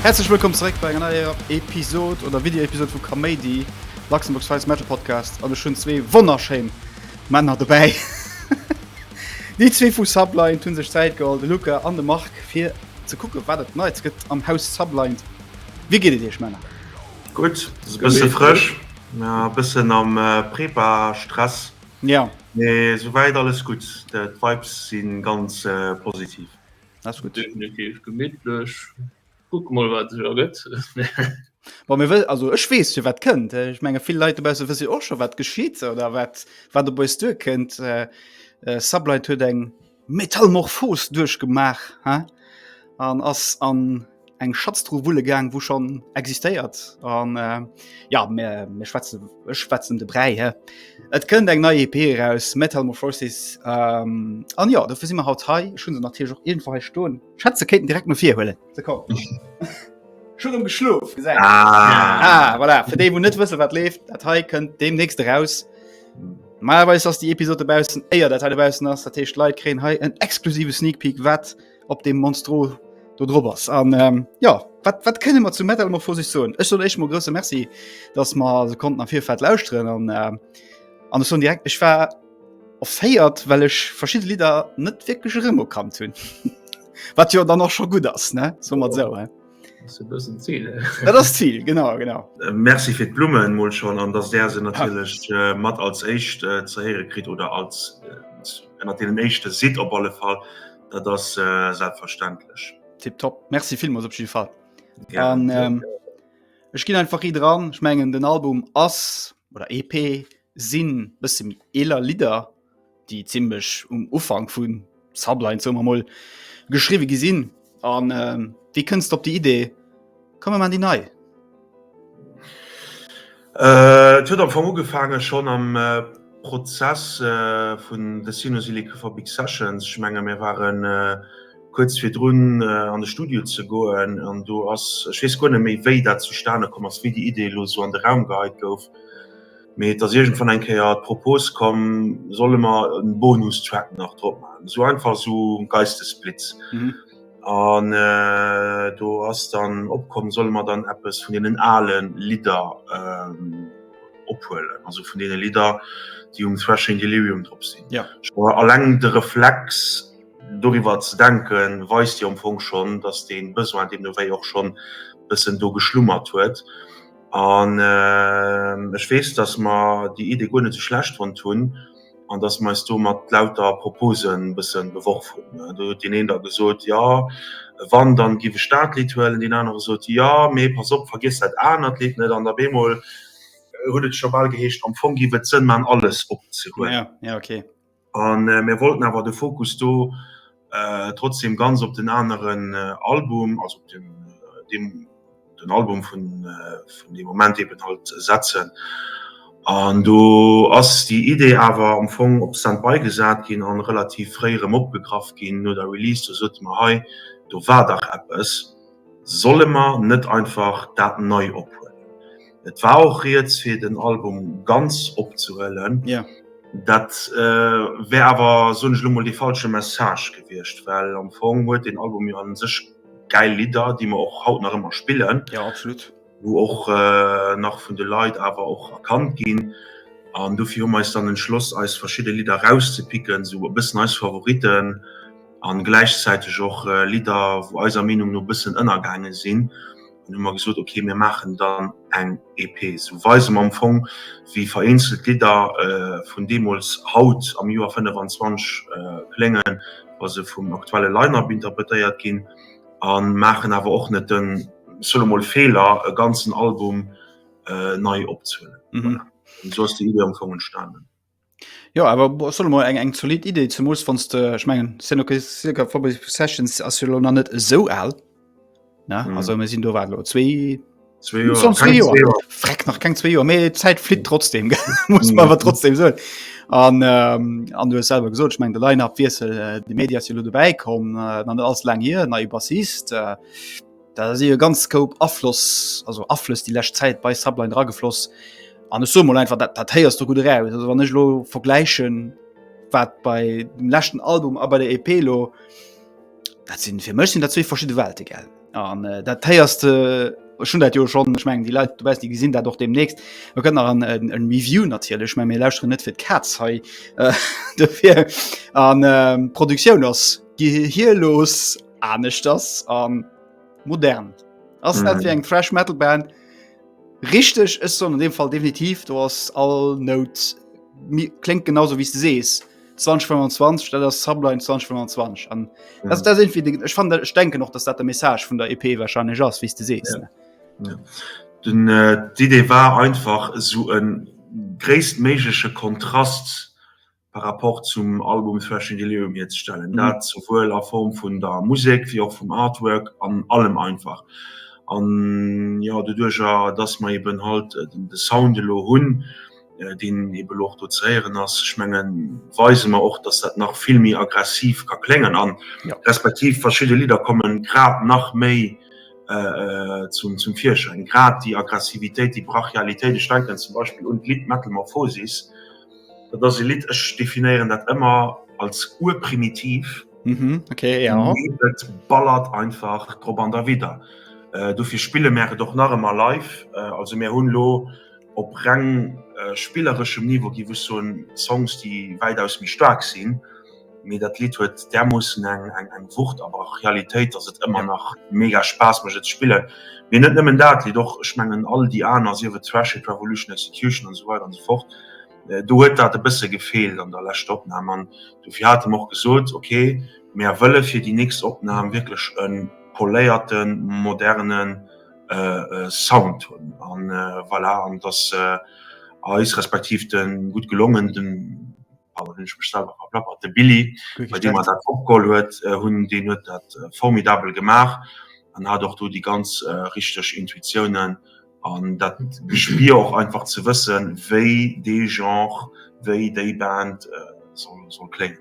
Häerzlech wëllkomm zeréck bei enger neier Episod oder Videoepisod vu Kaméidi, Luxembourg's Finest Metal Podcast. An ech hunn zwee wonnerschéin Männer dobäi. Déi zwee vu Sublind hu sech Zäit geholl, de Luka an de Marc, fir ze kucken, wat et Neits gëtt am Haus Sublind. Wéi geet et Iech, Männer? Gutt, ass e bësse frësch, e bëssen am Prepa Stress, mee souwäit alles gutt, d'Vibes si ganz positiv. Ass gutt. Definitiv gemittlech, kucke mol wat sech ergëtt. Bon, mir wëssen, also ech weess jo wat kënnt, ech menge vill Leit dobausse wësse jo och scho wat geschitt oder wat op eis duerkënnt. Sublight huet eng. Metalmorphos duerchgemaach an ass an eng Schatztruh wulle gaang, wou schonn existéiert. An jo, mir schwätzen, ech schwätzen ëm de Bräi he. Et kënnt eng nei EP eraus, Metalmorphosis. An jo, dofir si mer haut hei. Ech hu se natierlech och iergendwou hei stoen. Ech hätt se kéinten direkt no vir huelen. ze kommen. Schon um geschlof gesagt ah. ah, voilà. für den net wissen wat lebt dat he könnt dem nächste raus malweis hast die Episode bei eier der teilbau nach der Tisch leid kre he ein exklusive sneak peek wat op dem monstro du drs an ähm, ja wat, wat können wir zu metal immer vor sich so ich soll echt mal große merci dass man so konnten nach viel fett laus drin an ähm, an so direkt ich war offéiert well ech verschiedene Lider net wirklich Remo kann hunn. Wat jo dann och scho gutt ass ne so mat sou. Dat ass Ziel genau genau. Merci fir d'Blummen mol schonn an dass där se natierlech mat als éischt ze héiere kritt oder als ënner deenen éischte sidd op alle Fall. Dat ass selbstverständlech. Tiptop. Merci villmools op jidde Fall. An ech ginn einfach ri dran. Ech mengen den Album ass oder EP sinn bësse méi eeler Lidder déi ziemlech um Ufang vun Sublines so moll geschriwe gesinn an äh, wie kënnst op die Idee komme man die nei? Äh, et huet am Fong ugefaange schonn am äh, Prozess äh, vun The Sinusilica for Big Sessions. Ech menge mir waren äh, kuerz virdrun äh, an de Studio ze goen an do ass, ech weess guer net méi wéi dat zustane komm ass, wéi déi Idee elo sou an de Raum geheit gouf. Mee et ass iergendwann eng Kéier d'Propos komm, solle mer en Bonustrack nach drop maachen, esou einfach esou um Geistesblitz. An do ass dann opkomm, solle mer dann eppes vun deenen ale Lidder ophuelen, also vun deene Lidder, déi um Thrashing Delirium drop sinn. Scho eleng de Reflex, doriwwer ze denken, weist jo am Fong schonn, dass dee Besoin deemno wéi och schonn e bëssen do geschlummert huet. An ech weess, datt mer déi Idee guer net esou schlecht fonnt hunn an datt mer eis do mat lauter Proposen e bësse beworf hunn. Do huet deen een da gesot, Jo, wann, dann giff ech dat Lidd huelen. Deen anere gesot, Jo, mee pass op, vergiess dat anert Lidd net. An op eemol huet et scho bal geheescht, am Fong giff et Sënn maachen, alles opzehuelen. An mir wollten awer de Fokus do trotzdem ganz op den aneren Album, also op den Album vun deem Moment eben halt setzen. An do ass déi Idee awer am Fong op Standby gesat ginn an relativ fréi erëm opgegraff ginn no der Release. Do sote mer, hei do war dach eppes, solle mer net einfach dat nei ophuelen? Et war och riets fir den Album ganz opzehuelen. Ja. Yeah. Dat äh, wär awer so ech lummel de falsche Message gewircht, well am Fong huet den Album jo an sech geil Lider, déi mer och haut nach ëmmer spillen. Ja yeah, absolut. Wo och äh, nach vun de Leiit awer och erkannt ginn. An dofir hu meis dann entschloss eis verschidde Lider rauszepicken, sou e bëssen eis Favoriten an gläichzäiteg och äh, Lider, wou eiser Meenung no bëssen ënnergaange sinn. An hu mer gesot ok mir maachen dann eng EP, sou weise mer am Fong wéi vereenzelt Lidder vun deemools haut am Joer 25 kléngen, wa se vum aktuelle Line-Up interpretéiert ginn a maachen awer och net den, ech soe mol, Feeler e ganzen Album nei opzehuelen. Voilà, esou ass déi Iddi am Fong entstanen. Jo awer bo ass schon emol eng eng zolidd Idee, zemools wann s de ech mengen s sinn ok ca. Forbes Sessions ass jo lo nach net esou al ne also mir sinn do wat elo zwee Zwee Joer, schonn zwee keng Joer, zwee Joer. freck nach keng zwee Joer, mee d'Zäit flitt trotzdem gell, muss mer awer trotzdem soen. An an du hues selwer gesot, ech meng de Line-Up-Wiessel, de Mady ass jo lo dobäi komm, nach net allze laang hier, neie Bassist. Da si jo ganz Scope Afloss also Aflëss déi lescht Zäit bei Subline ragefloss. An ech so mol einfach dat dat héiers du gut eraus. Also wann ech lo vergläichen wat bei dem leschten Album a bei der EP lo dat sinn fir mech sinn dat zwee verschidde Welte gell. An äh, dat héiers de äh, schon dat jo schon ech meng déi Leit du weißt déi gesinn dat och demnächst. Mer gëtt nach an en en Review natierlech, mä mir lauschteren net fir d'Kaz hei äh, dofir an äh, Produktioun ass gehirlos. aneschters an modern ass mm. net wie eng Thrash Metal Band richteg ës so an dem Fall definitiv do ass all Not klenk genauso wie du sees. 2025 dat ass Subline 2025 an mm. dat dat sinn fir Dinge ech fan ech denke noch, dats dat de Message vun der EP warscheinlech ass wie du sees. Ja. Ja. Den äh, d'Idee war einfach esou en gréisstméiglege Kontrast par rapport zum Album Thrashing Delirium hierzestellen, dat souwuel a Form vun der Musek wéi och vum Artwork an allem einfach. An jo, doduercher dass mer eben halt de Sound elo hunn, deen eben elo och do ze héieren ass, ech mengen, weise mer och, dass dat nach vill méi aggressiv ka kléngen a respektiv verschidde Lidder komme grad nach méi zum Virschäin, grad déi Aggressivitéit, déi Brachialitéit. Ech denken zum Beispill un d'Lidd Metamorphosis. Dat ass e Lidd, ech definéieren dat ëmmer als urprimitiv. Mhm, okay, ja. Et ballert einfach drop an derwidder. Äh, dofir spille mär et och nach ëmmer live. Äh, also mir hunn lo op reng äh, spillereschem Niveau, géif ech soen, Songs, déi wäitaus méi staark sinn. Mee dat Lidd huet därmoossen eng Wucht a Brachialitéit, dass et ëmmer nach mega Spaass mécht et ze spillen. Mee net nëmmen dat Lidd, och ech mengen all déi aner, sief et Thrash Hit Revolution, Execution an esou weider an esou fort, do huet dat e bësse gefeelt an der leschter Opnam. An dofir hate mer och gesot, ok, mär wëlle fir déi nächst Opnam wierklech e poléierte moderne Sound hunn. A voilà, an et ass eis respektiv de gutt gelongen. an dann hunn ech mech selwer verplappert. De Billy, bei deem mer dat opgeholl huet, hunn, deen huet dat formidabel gemaach an hat och do déi ganz richteg Intuitiounen an dat Gespier och einfach ze wëssen, wéi dee Genre, wéi déi Band soll kléngen.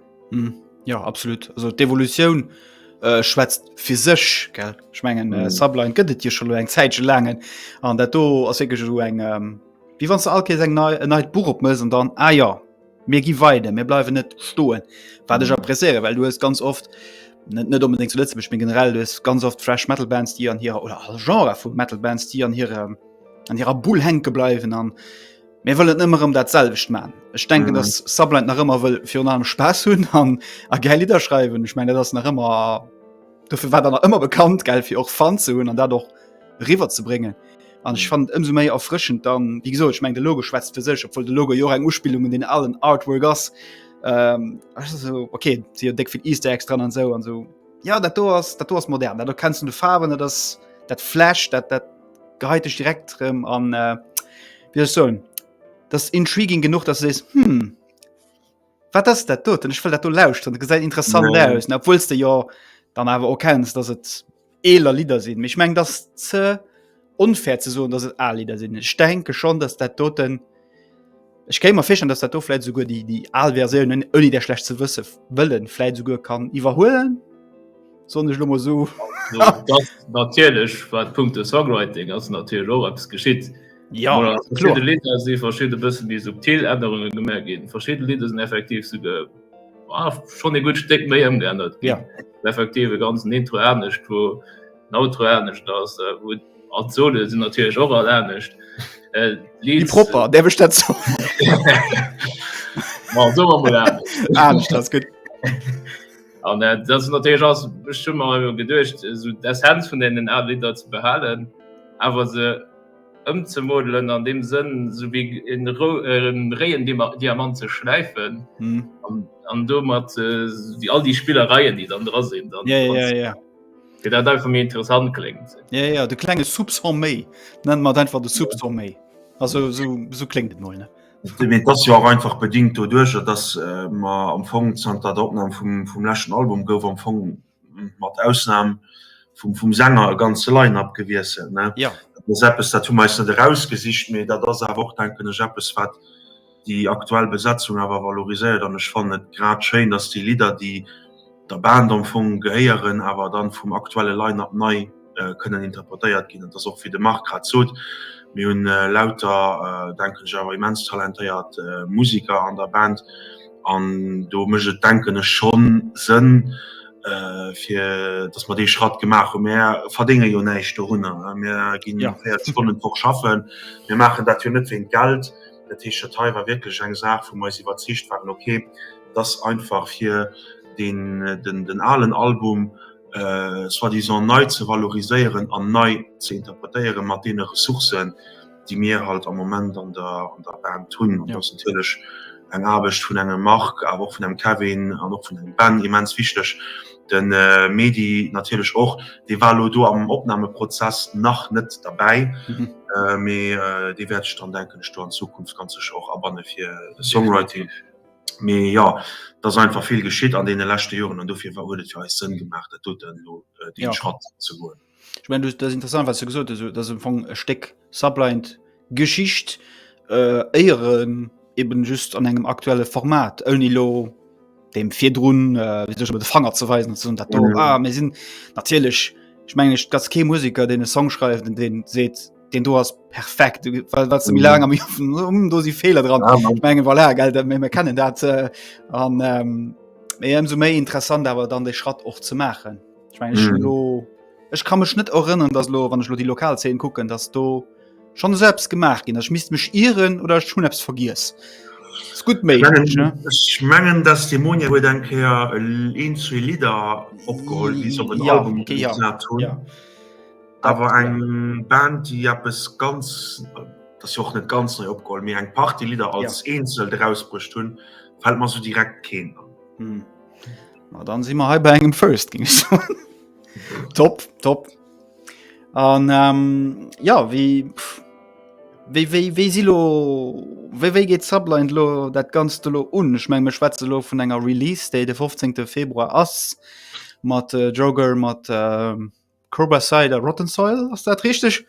Jo, absolut. Also d'Evolutioun schwätzt fir sech. Ech mengen, Sublime gëtt et jo scho elo eng Zäitche laang an dat do ass wierklech elo eng. Wie wann ze all Kees eng nei en neit Buch opmëss an dann ah ja mir gi weide mir bleiwen net stoen wat ech appréciéiere, well du hues ganz oft net net unbedingt zu Lëtzebuerg mee generell du hues ganz oft Thrash Metal Bands déi an hirer oder all Genre vu Metal Bands déi an hirem an hirer Bull henke bleiwen an mir wëllen ëmmer ëm dat selwecht man. Ech denken Mhm. dass Sublight nach ëmmer wëll virun allem Spaass hunn an a gäi Lidder schreiwen. Ech meng dat ass nach ëmmer dofir war der nach ëmmer bekannt gell fir och Fan ze hunn an dat och riwer ze bréngen an ich fand ëmso méi erfrschend dann wie so ich meng de Logo schwätzt fir sech obwohl de Logo Jo eng Uspilung in den allen Artwork ass ähm, so, okay sie deck fir Easter extra an so an so ja dat do ass dat do ass modern dat kennst du de Farben dat ass dat Flash dat dat geheit dich direkt rem an äh, wie so das intriguing genug dass es hm wat das dat do denn ich will dat du lauscht dann gesäit interessant nee. aus obwohlst du ja dann aber auch kennst dass et eeler Lidder sinn. Mee ech mengen, dass ze onfair ze soen, dass et al Lidder sinn. Ech denke schonn, dass dat doten, ech kéint mer virstellen, dass dat do vläit esouguer déi, déi al Versiounen, ouni dat schlecht ze wësse wëllen, vläit esouguer kann iwwerhuelen, soen ech elo mol esou. Dass natierlech, wat punkto Songwriting ass natierlech och eppes geschitt. Ja, Voilà, kloer. verschidde Lidder si verschidde bëssen méi subtil Ännerunge gemaach ginn. Verschidde Lidder sinn effektiv esouguer. Ah, schon e gut Steck méi ëmgeännert. Ja. Effektiv e ganzen Intro anecht, wo den Outro anecht ass, äh, wo an Sole sinn natierlech och all anecht. Äh, Wie Leads- propper, der bech dat so. Ma, so war mal anecht. Anecht, das gut. An äh, dat ass natierlech ass bestimmer iwwer geduecht, eso d'Essenz vun deenen Al Lidder ze behalen, awer se ëmzemodelen an dem Sënn sou wéi en réien Diamant ze schläifen an domat all déi Spillereien déi dann dra sinn dann fir dat einfach méi interessant kléngt. Jo jo de klenge Soupçon méi, nenne mer et einfach de Soupçon méi. Also sou kléngt et mol. Et ass jo och einfach bedingt doduercher, datt mer am Fong zanter der Opnam vum leschten Album gouf am Fong mat Ausnahm vum, vum Sänger e ganze Line-Up gewiesselt, ne? Ja. Dat ass eppes, dat hu mer eis net erausgesicht, mee dat ass awer och, denken ech, eppes, wat déi aktuell Besetzung awer valoriséiert. An ech fannen et grad schéin, dass déi Lidder, déi der Band am Fong gehéieren, awer dann vum aktuelle Line-Up nei, äh, kënnen interpretéiert ginn. dat ass och fir de Mark grad sot. Mi hunn äh, lauter äh, denken awer immens talentéiert äh, Musiker an der Band an do mëch et denken ech schon Sënn äh, fir dass man dee Schratt gemaach hun Mä verdénge jo näicht do hunner. Mir ginn ja. 40 Stonnen woch schaffen. Mir maachen dat jo net wéint Geld. Dat heescht dat hei war wierklech eng Saach vun eis iwwerzeegt waren okay, dass einfach fir den, den, den alen Album, äh, soi-disant nei ze valoriséieren an nei ze interpretéieren mat deene Ressourcen, déi mir halt am Moment an der, an der Band hunn. Ja. ass natierlech eng Aarbecht vun engem Marc, awer och vun engem Kevin an och vun engem Ben immens wichteg. Den äh, Medi natierlech och, dee war lo do am Opnahmeprozess nach net derbäi, Mhm. äh, mee äh, dee wäert ech dann denken ech do an Zukunft ganz sech och abanne fir de Songwriting. Mee jo, et ass einfach vill geschitt an deene leschte Joren an dofir huet et fir eis Sënn gemaach, dat doten elo dee Schratt ze goen. Ech mengen, dat ass interessant, wat s de gesot hues, dat ass am Fong e Stéck Subliant Geschicht, éier en eben just an engem aktuelle Format, ouni elo deem virdrun, wéi soll ech soen, de Fanger ze weisen an ze soen, dat do, ah mir sinn natierlech, ech mengen, et ass kee Museker, deen e Song schreift an dee seet, den du hast perfekt was mir lange mich um du sie Fehler dran ja, ich mein, voilà, gell, wir kennen dat äh, an ähm, so méi interessant aber dann de Schratt och ze machen ich mein, ich mhm. lo, ich kann mech net erinnern dass lo wann ich lo die lokal 10 gucken dass du schon selbst gemacht gin ich miss mech ieren oder schon apps vergiss gut méi ich mengen dass die Monia wo denke ja, äh, zu Lider opgeholt ja, okay, ja. Ja. Awer eng Band déi eppes ganz dat ass jo och net ganz nei opgeholl, mee eng Partie Lidder als Eenzel erausbruecht hunn, fält mer esou direkt keen an. Ma dann si mer hei bei engem First, géing ech soen. Top, top. An jo, wéi, wéi, wéi, wéi si elo, wéi, wéi geet Sublined elo dat Ganzt elo un? Ech meng, mir schwätzen elo vun enger Release-Date, de 15. Februar ass mat Joker, mat. Curbicide a Rotten Soil ass dat richteg?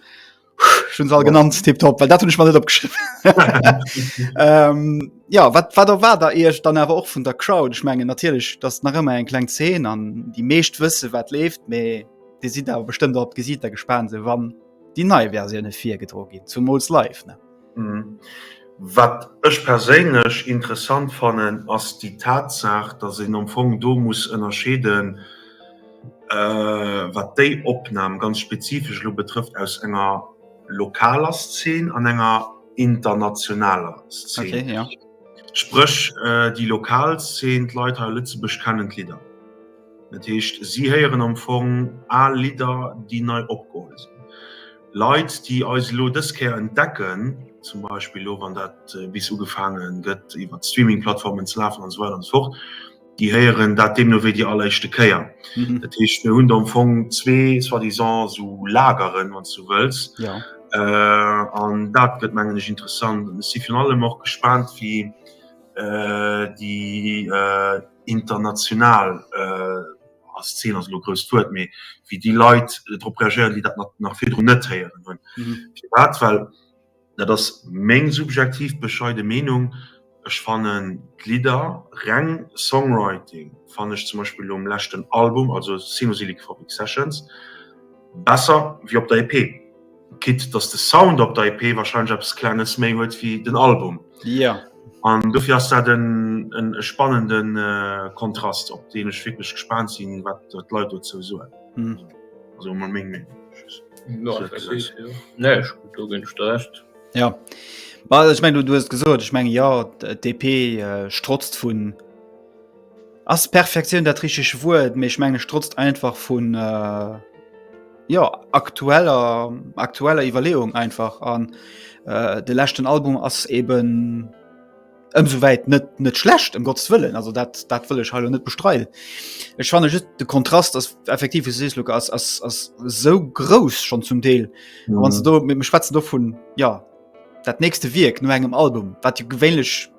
Schun all genannt Tipp top, well dat hunn ech mal net opgeschriff. ähm, ja wat wat der war der eech dann awer och vun der Crowd ech mengen natierlech dat nach ëmmer eng kleng 10 an déi meescht wësse wat left méi Di si awer bestëmmt op gesiit der gespaant se wann déi nei Versioune virgedro ginn zu Mols live ne. Wat ech perséinlech interessant fannen, ass déi Tatsaach, datt een am Fong do muss ënnerscheeden, wat déi Opnam ganz spezifesch elo betrëfft, aus enger lokaler Szen an enger internationaler Szen. Spréch déi lokal Szen, d'Leit hei a Lëtzebuerg kennen d'Lidder. Dat heescht, si héieren am Fong al Lidder, déi nei opgeholl sinn. Leit déi eis elo dës Kéier entdecken, zum Beispill elo wann dat bis ugefaange gëtt iwwer d'Streaming-Plattformen ze lafen an esou weider an esou fort, déi héieren dat deemno wéi déi alleréischte Kéier. Dat heescht mir hunn do am Fong zwee soi-disant esou Lageren, wann s du wëlls. An dat gëtt mengen ech interessant. Ech si virun allem och gespaant wéi déi international. als Zil ass elo grousst Wuert, mee wéi déi Leit drop reagéieren, déi dat nach virdrun net héieren hunn. Firwat? Well dat ass meng subjektiv bescheide Meenung, ech fannen d'Lidder, reng Songwriting, fannen ech zum Beispill um leschten Album, also Sinusyllic Phobic Sessions, besser wéi op der EP. quitte dass de Sound op der EP wahrscheinlech eppes Klenges méi huet wéi den Album. Ja. An dofir ass dat en, en e spannenden äh, Kontrast, op deen ech wierklech gespaant sinn, wat d'Leit dozou soen. Hm. Also emol meng Meenung. No, So, effektiv, gesetzt. jo. Nee, ech, do ginn ech der Recht. Ja. Bah, ech meng, du, du hues gesot, ech meng, jo, d'EP äh, strotzt vun, Ass Perfektioun dat richeg Wuert, mee ech menge strotzt einfach vun äh, ja, aktueller, aktueller Iwwerleeung einfach an äh, de lächten Album ass eben ëmsou wäit net net schlecht em um Gottes wëllen, also dat dat wëll ech hallo net bestreiden. Ech fanne just de Kontrast ass effektiv wie sees Luke ass ass ass sou grouss schon zum Deel mhm. wann du do mit dem Schwetzen do vun ja dat nächste Wierk no engem Album, wat du gewéinlech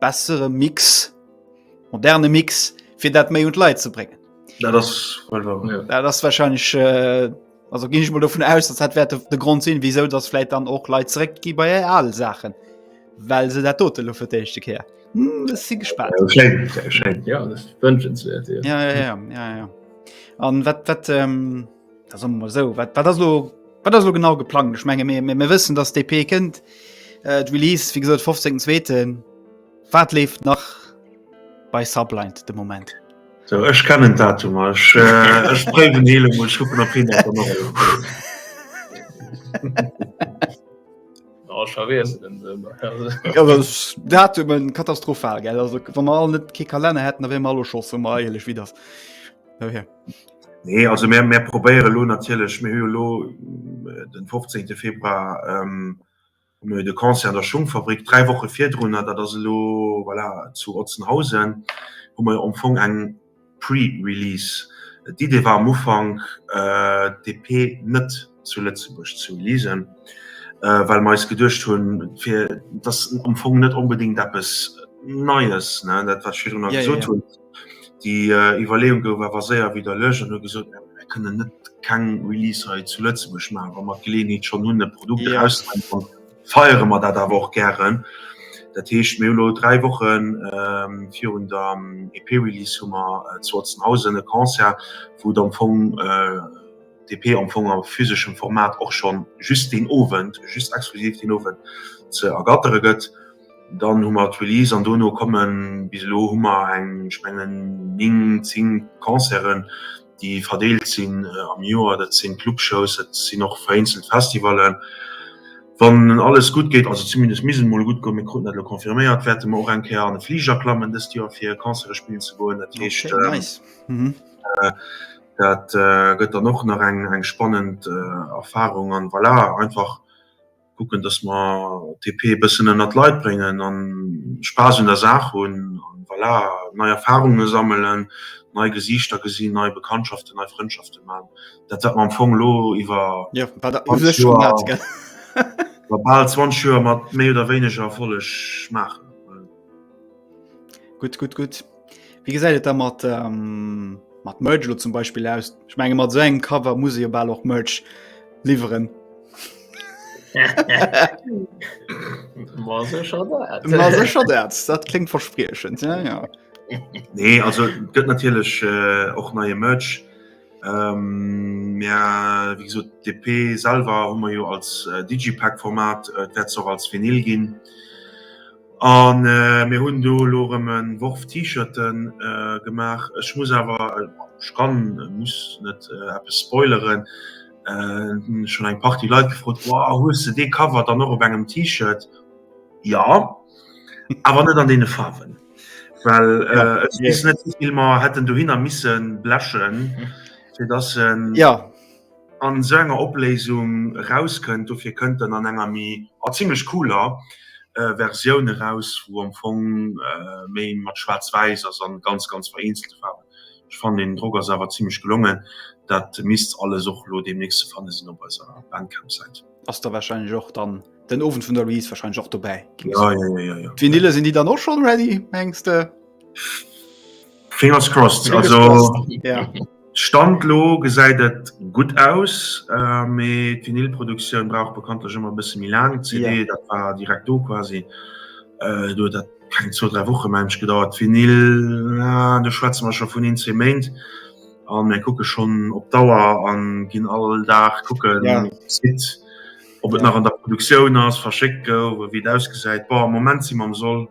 bessere Mix moderne Mix fir dat méi und Leiit ze bringen. Ja, das, ja, das wahrscheinlich äh, also ging ich mal davon aus dass hat werte der grund sehen wieso das vielleicht dann auch leid zurück die bei alle sachen weil sie der tote luft her hm, sie gespannt wünschenswert an wat wat ähm, Da somme mer esou, wat ass elo wat ass elo genau geplangt? Ech menge mir mir wëssen, datt DP kënnt äh, d'Release wéi gesot 15 zweeten wat leeft nach bei Subblind de Moment. So, ech kennen Datum ech äh, ech bréiwen hele mol schuppen op hin Datumen katastrophal gell also wann man all net ke Kalenner hätten, wéi mal scho meileg wie das. Okay. Nee, also mir, mir probéiere lo natierlech, mir hu jo lo den 15. Februar ähm, mir hu de Concert an der Schungfabrik, dräi Woche virdrunner, dat ass elo voilà, zu Otzenhausen, hu mer jo am Fong eng Pre-Release. D'Idee war am Ufank äh, d'EP net. zu Lëtzebuerg zu lesen, äh, well mer eis geduecht hunn, fir dass am Fong net onbedingt eppes Neies, ne, dat wat ech virdrun ja, gesot ja, ja. hunn, déi äh, Iwwerleeung gouf awer séier widerlech an huet gesot, äh, mir kënnen net keng Release hei zu Lëtzebuerg maachen, wa mer d'Geleeënheet schon hunn, e Produkt ja. auszubringen, feiere mer dat awer och gären. Dat heescht mir lo dräi Wochen ähm, virun der ähm, EP-Release hu mer äh, zu Otzenhausen e Concert, wou am Fong äh, DP am Fong a physeschem Format och schonn just deen Owend, just exklusiv deen Owend ze ergattere gëtt. Dann hu mer d'Release an dono kommen, bis elo hu mer eng, ech mengen, néng, zéng Concerten, déi verdeelt sinn am Joer. Dat sinn Clubshows, dat sinn och vereenzelt Festivallen. Wann alles gutt geet, also zumindest misst et emol gutt goen, mir kruten dat elo confirméiert, wäerte mer och eng Kéier an e Fliger klammen dëst Joer, fir Concerte spillen ze goen. Dat heescht. Dat gëtt dann och nach eng eng spannend Erfahrung an voilà einfach kucken, dass mer TP e bëssen ënnert d'Leit bréngen a Spaass un der Saach hunn an voilà nei Erfahrunge sammelen, nei Gesiichter gesinn, nei Bekanntschaften, nei Frëndschafte maachen. Dat wat mer am Fong elo iwwer bal 20 Joer mat méi oder wéineger Erfolleg maachen. Gutt, gutt, gutt. Wéi gesäit et da mat ähm, mat Merch lo zum Beispill aus? Ech menge mat seng so Cover muss jo bal och Merch liwweren. secher dat dat klingt verspriechen ja, ja. nee also gött natürlich äh, och neue Merch ähm, ja, wieso DP salver hummer jo als äh, digipack Format äh, dat auch als vinil ginn A mir hunn do elo erëm e Worf T-Shirte gemaach. Ech muss awer, ech kann, muss net eppes spoileren. Et hunn schonn eng Partie Leit gefrot, Wow, hues de dee Cover dann och op engem T-Shirt? Jo, awer net an deene Faarwen, well ech weess net, wéi vill mer hätten dohinner misse blechen, fir dass en. an esou enger Opléisung erauskënnt. Dofir kënnt en an enger méi, a zimlech cooler, Versioun eraus, wou am Fong méi mat schwaarz-wäiss ass an ganz ganz vereenzelte Faarwen. Ech fannen den Drock ass awer zimlech gelongen. Dat misst alles och elo deemnächst ze fanne sinn op eiser Bandcamp-Säit. Ass da wahrscheinlech och dann den Owend vun der Release wahrscheinlech och dobäi? Jo jo jo jo. D'Vinylle sinn déi dann och schonn ready mengs de? Fingers crossed, also Stand lo gesäit et gutt aus, mee d'Vinylproduktioun brauch bekanntlech ëmmer e bësse méi laang. CD dat war direkt do quasi, do huet dat keng zwou, dräi Woche mensch gedauert. Vinyl do schwätze mer scho vun een, zwee Méint a mir kucke schonn op d'Auer a ginn all Dag kucken op de Site, ob et nach an der Produktioun ass, verschéckt gouf, wéi et ausgesäit. Bon, am Moment si mer am Soll.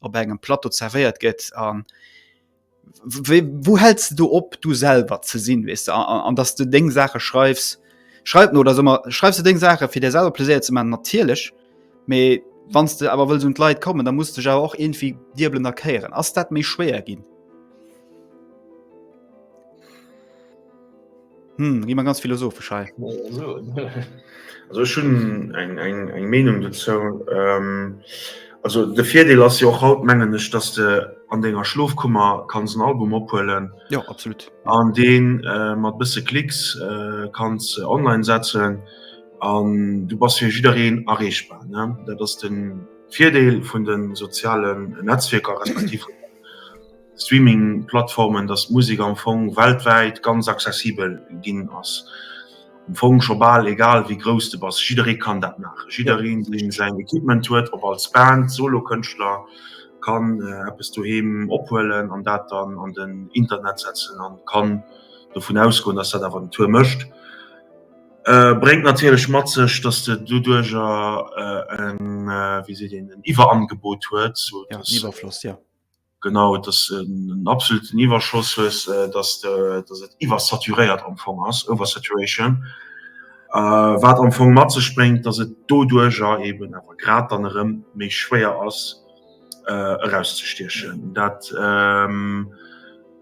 op engem Plateau zervéiert gëtt an wou hältst du op du selber ze sinn wis an dass du deng Sache schreifs schreibt no oder sommer schreibst du deng Sache fir der selber Pläier ze man natierlech méi wann du awer wëll und Leiit kommen da muss du ja auch irgendwie dirbelen erklären ass dat méi schwéier ginn Hm, gi man ganz philosophisch hei. Also schon eng eng eng Meinung dazu ähm, also de Virdeel ass jo och haut mengen ech, dass de an denger Schlofkummer kanns en Album ophuelen. Ja absolut. An deen äh, mat bësse Klicks äh, kanns online setzen an du bass fir jiddereen erreechbar ne. Dat ass den Virdeel vun den sozialen Netzwierker respektiv. Streaming-Plattformen, datt d'Musek am Fong weltwäit ganz accessibel ginn ass. Am Fong scho bal egal wéi grouss de bass, jidderee kann dat maachen. Jiddereen, dee säin Equipment huet, ob als Band, Solokënschtler, kann eppes doheem ophuelen an dat dann an den Internet setzen a kann dovun ausgoen, datt dat awer den Tour mécht. Bréngt natierlech mat sech, datt de doduerjer en, wéi seet een, en Iwwerangebot huet, sou datt. Iwwerfloss, jo. Genau, et ass en absoluten Iwwerschoss, hues, dass de, dass et iwwersaturéiert am Fong ass, oversaturation, wat am Fong mat sech bréngt, dass et doduerjer eben awer grad dann erëm méi schwéier ass erauszestiechen. Dat,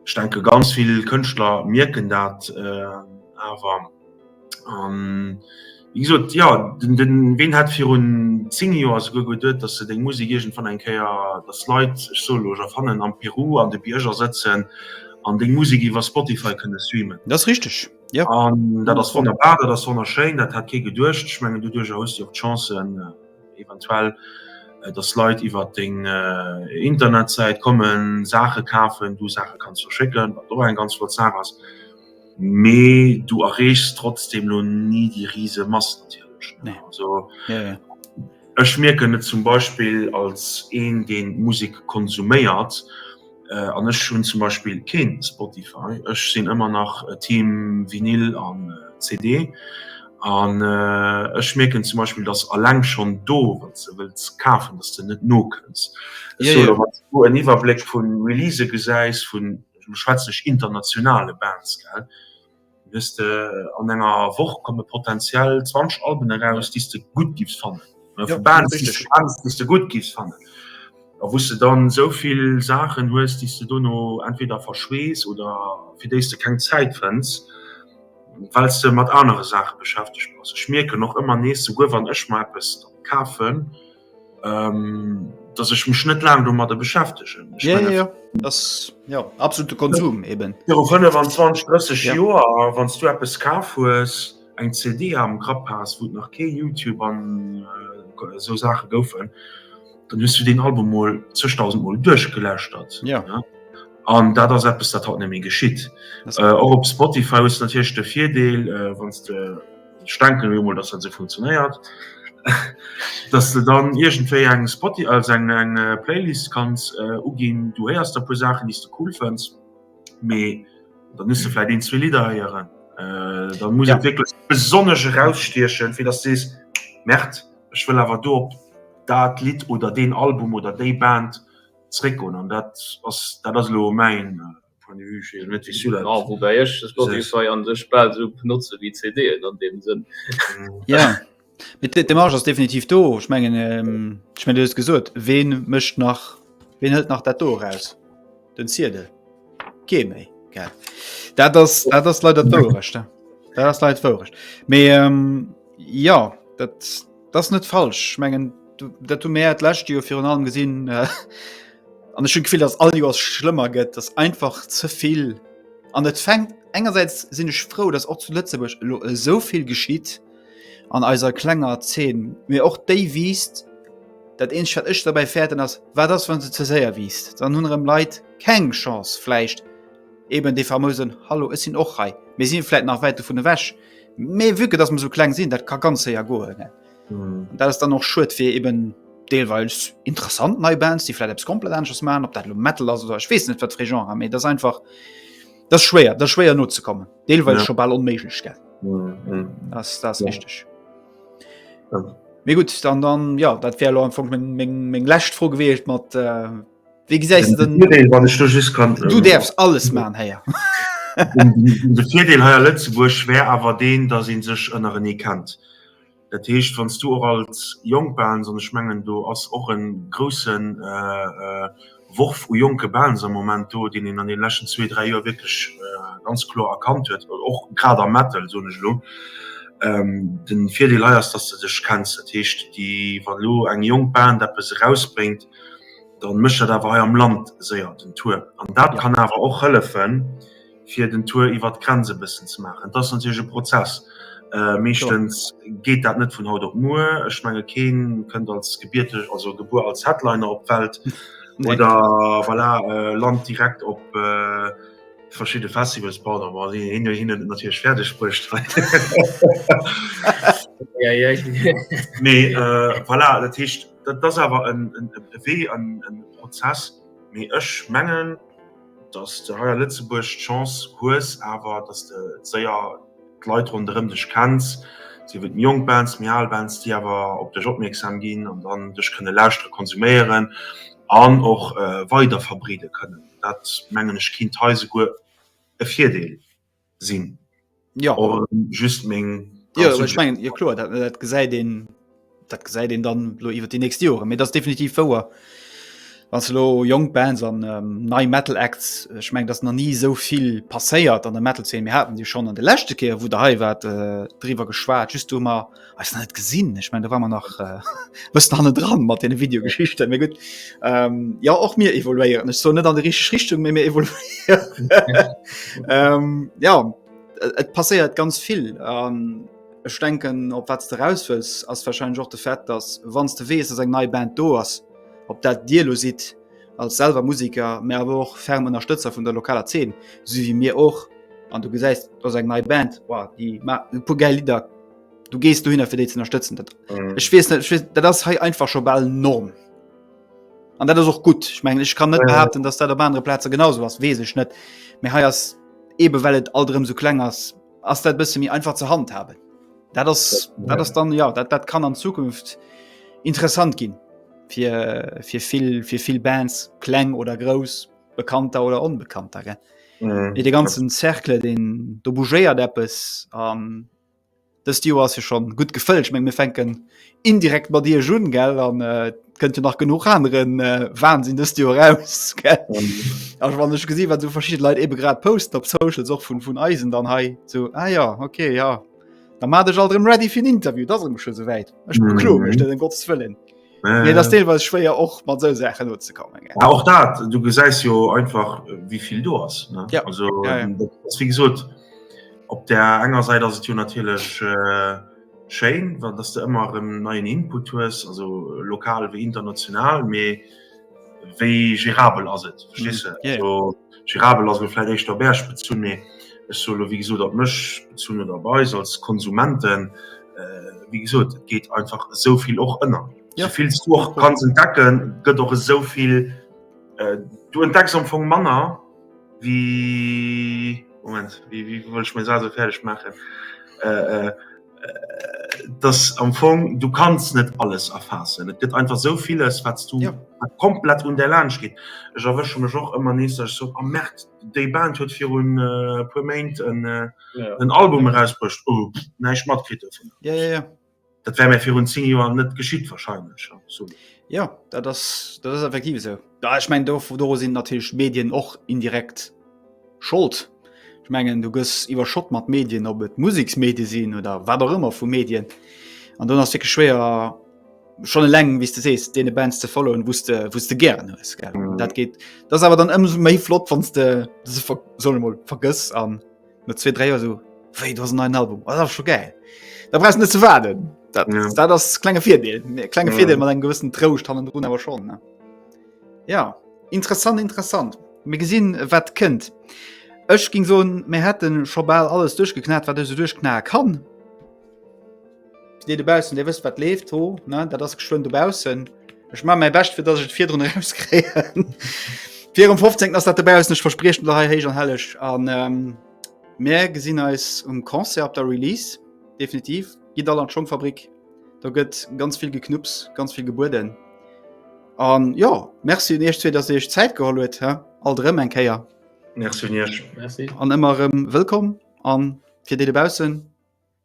ech denke ganz vill Kënschtler mierken dat awer. Wéi gesot, jo, den Ween hat virun 10 Joer souguer geduet, datt se deng Musek iergendwann eng Kéier, datt Leit, ech soe lo Japanen, am Peru an de Bierger sëtzen an deng Musek iwwer Spotify kënne streamen. Dat ass richteg, jo. An dat ass wonnerbar, dat ass wonnerschéin, dat hat kee geduecht. Ech mengen, doduerjer hues de jo och d'Chance eventuell, datt Leit iwwer deng Internetsäit kommen, Saache kafen, du Saache kanns verschécken, wat och eng ganz flott Saach ass. Mee du erreechs trotzdem lo ni déi rise Mass natierlech ne. Also ech mierken et zum Beispill als een deen Musek konsuméiert an ech hunn zum Beispill kee Spotify, ech sinn ëmmer nach Team Vinyl an CD an ech mierken zum Beispill datt alleng schonn do wann s de wëlls kafen datt s de net nokënns. Dass du en Iwwerbléck vu Release gesäis vun Elo schwätzen ech internationale Bands, gell. Hues de an enger Woch komme potentiell 20 Alben eraus, déi s de gutt giffs fannen. Vu Bands, déi s de gutt giffs fannen. A wou s de dann esou vill Saachen hues, déi s de dono entweder verschwees oder fir déi s de keng Zäit fënns, well s de mat anere Saache beschäftegt bass. Ech mierken och ëmmer nees, souguer wann ech mer eppes kafen, ähm, dass ich mich net lang um der beschäftigen ja, ja, ja. das ja absolute Konsum ja. eben ja, 25 30 ja. Jahre, wann du etwas ka ist eng CD am Grapp hast wo nach ke youtube an äh, so Sache goufen dann hast du den Album mal 2000 mal durchgelöscht hat ja, ja? an da das etwas dat hat nämlich geschieht äh, auch op Spotify ist natürlich der vierdeel äh, wann du Ich denke mir mal, dass dat esou funktionéiert, dass de dann iergendwéi eng Spoti-, also eng, eng Playlist kanns uginn. Du héiers der e puer Saachen, déi s de cool fënns, mee da muss de vläicht een, zwee Lidder héieren. Da muss et wierklech besonnesch erausstiechen, fir dass de sees, Merde, ech wëll awer do op dat Lidd oder deen Album oder déi Band zréckgoen. An dat ass, dat ass elo mäin. Point de vue, ech wees net wisou dat. Ah, woubäi ech Spotify an sech bal esou benotze wéi CDen an deem Sënn. Ja. Mit de Marge ass definitiv do. Ech mengen ähm, ech mein du hues gesot, wen mëcht nach wen hëlt nach dat do raus? Den Ziedel. Kee méi. Ge. Dat ass dat ass leider d'Wourecht. Dat ass leit d'Wourecht. Mee ähm, ja, dat Das net falsch ich mengen dat du Mä lächte jo virun allem gesinn äh, an ech hun gefiel dass all Joers schlëmmer gëtt, dass einfach zevill an et fängt engerseits sinn ech frou, dass och zu Lëtzebuerg elo esou vill geschitt an eiser klenger Zeen, mee och déi wiisst dat eenzeg wat ech dobäi fäerten ass, wat ass wann se ze séier wiisst, dann hunn erëm Leit keng Chance vläicht eben dee famösen Hallo ech sinn och hei, mir si vläicht nach wäit dovun ewech, Mee vu dass man so kleng sinn, dat ka ganz séier goen. Mm. Dat ass dann och schuet fir eben deelweils interessant nei Bands, déi flläit eppes komplett anesches machen, op dat lo Metal ass oder ech weess net wat fir Genre, méi dat einfach dat schwéier, dat schwéier nozekommen. Deelweils Ja. scho bal onméiglech gell. Mm. Das das Ja. richtig. Ja. Mir gut, dann dann ja, dat wär lo am Fong meng meng meng lescht Fro gewiescht mat äh, Wie gesäis den Virdeel wann ech do just kann Du ähm, därfs alles man héier. De Virdeel heier Lëtzebuerg schwär awer deen, dat een sech ënner en ee kennt. Dat heescht wanns du och als jonk Bands an ech mengen do ass och en groussen äh, äh, Worf u jonke Bands am Moment do, deen een an den leschten zwee, dräi Joer wierklech äh, ganz kloer erkannt huet, och grad am Metal soen ech elo. Ähm, den Virdeel hei ass, dass de dech kenns. Dat heescht déi wann elo eng jonk Band eppes erausbréngt, dann mécht dat awer hei am Land séier den Tour. An dat kann awer och hëllefen, fir den Tour iwwer d'Grenz e bëssen ze maachen. Et ass natierlech e Prozess. Meeschtens geet dat net vun haut op muer. Ech menge kee kënnt als gebierteg, also gebuer als Headliner op d'Welt oder voilà, lant direkt op verschidde Festivals, pardon, ma si hunn et natierlech fäerdeg bruecht hei. Mee voilà, dat heescht. Dat ass awer e Wee an e Prozess, mee ech mengen, datt s de hei a Lëtzebuerg d'Chance hues awer, datt s de séier d'Leit ronderëm dech kenns, sief et méi jonk Bands, méi al Bands, déi awer op dech opmierksam ginn an dann dech kënne lauschtere, konsuméieren an och weider verbreede kënnen. Dat mengen ech kinnt hei souguer e Virdeel. sinn ja just meng ja, ich mein, ja klar dat, dat gesäit den dat gesäit den dann lo iwwer die nächste Jore mir das definitiv wouer was lo jong Bands an ähm, nei metal Acts ich meng das na nie so viel passéiert an der metal 10 mir hatten die schon an de lechte Keer wo der hei wat äh, drwer geschwaart just du mal Ech net gesinn Ech mein da war man nach wëst hanne dran mat den Videogeschichte mé gut ähm, Ja och mir evoluéieren Ech so net an de rich Richtung mé mé evol ähm, Ja et passéiert ganz vill ähm, Ech denken op wat de rauswës ass verschschein och de Fett, dass wanns de wees ass eng nei Band do ass op dat Dir lo siit als selver Musiker mé awer och ferm Ënnerstëtzer vun der lokaler 10 si wie mir och an du gesäist ass eng nei Band war die pu Gel Lider du gehst du hin fir déi ze unterstützen dat mhm. ich wees net dat ass hei einfach scho ball norm an dat ass och gut ich mengg ich kann net behaupten datt dat op andere plaze genauso ass wees ech net mé hei ass ebe wellt alterm so kleng ass ass dat bësse mir einfach ze hand haben dat ass dat ass dann ja dat dat kann an zukunft interessant ginn fir fir vill fir vill bands kleng oder grouss bekannter oder unbekannter ge mhm. de ganzen zerkle den do bougéiert appppes an ähm, Dëst Joer ass jo schonn gutt gefëllt. Ech mengen, mir fänken indirekt mat Iech un, gell? An et kënnt jo nach genuch anere Wahnsinn dëst Joer eraus, gell? A wann ech gesinn, wat esou verschidde Leit eebe grad posten op Socials, och vun eisen dann hei, esou, ah jo, okay, jo, da mat dech alt erëm ready fir en Interview, et ass erëm scho souwäit, ech bekloe mech net, ëm Gottes Wëllen. Nee, das deelweis schwéier och mat se Säche no ze kommen. Ja, och dat du gesäis jo einfach wieviel du ass ja. also, ja, ja. wie gesot op der enger Seite ass jo natilech äh, Schein, wann dass du ëmmer en neien Input hues, also lokal wie international méi. wéi gérabel ass et verstehst du? Ja, ja. So, gérabel ass vielleicht echt der Berg bezun mee ech so lo, wie gesot op mech bezun oder bei eis als Konsumenten äh, wie gesot et geht einfach so viel och ënner Ja. soviel du och kannst entdecken gëtt och so viel äh, du entdeckst am Fong Manner wie Moment wie, wie wollt ich mir so fertig machen äh, äh, dass am Fong du kannst net alles erfassen. Et gëtt einfach so vieles, wat du ja. komplett un der Lage geht. Ech erwësche mech och ëmmer nees sech so am oh, März déi Band huet fir un äh, puer Maint en äh, ja. Album herausbrucht oh, neiich matkrit vun. Ja, ja, ja. Dat wär mir fir un 10 Joer net geschitt wahrscheinlich. So. Ja, dat ass effektiv se. So. Ja, ech mengen doru sinn natierlech d'Medien och indirekt Schold. Ech mengen du gëss iwwerschott mat Medien, ob et Museksmedie sinn oder wat och ëmmer vu Medien. An dann ass wierklech schwéier schonn eleng wéi s de sees deene Bands ze followen, wou s de wou s de gären hues, gell? Dat geet, dat ass awer dann ëmsou méi flott, wann s de se ver solle mol vergëss an. No zwee, dräi Joer esou, wéi, du hast en neien Album, oh, dat ass scho gäil. Da brauchst du net ze waarden. Dat, ja. dat ass klenge Virdeel. Klenge ja. Virdeel mat engem gewëssen Trouscht hannen drun awer schon. Ne? Ja, interessant, interessant. Mir gesinn, wat kënnt. Ech ging so, mir hätten scho bal alles duerchgeknat, wat ech so duerchknae kann. Dir dobaussen, Dir wësst wat leeft ho ne dat ass geschwënn dobaussen. Ech ma méi bescht fir dat ech virdrun ems kréien. Vir um 15 ass dat dobaussen ech verspriechen der hei héich an helleg an ähm, Mä gesinn eis um Concert op der Release definitiv gitt all an d'Schongfabrik. Da gëtt ganz vill geknupps, ganz vill gebueden. An ja Merci un Iech zwee, datt Dir Iech Zäit geholl huet he alt erëm eng Kéier. Merci un Iech. Merci. An ëmmer erëm wëllkomm an fir déi dobaussen.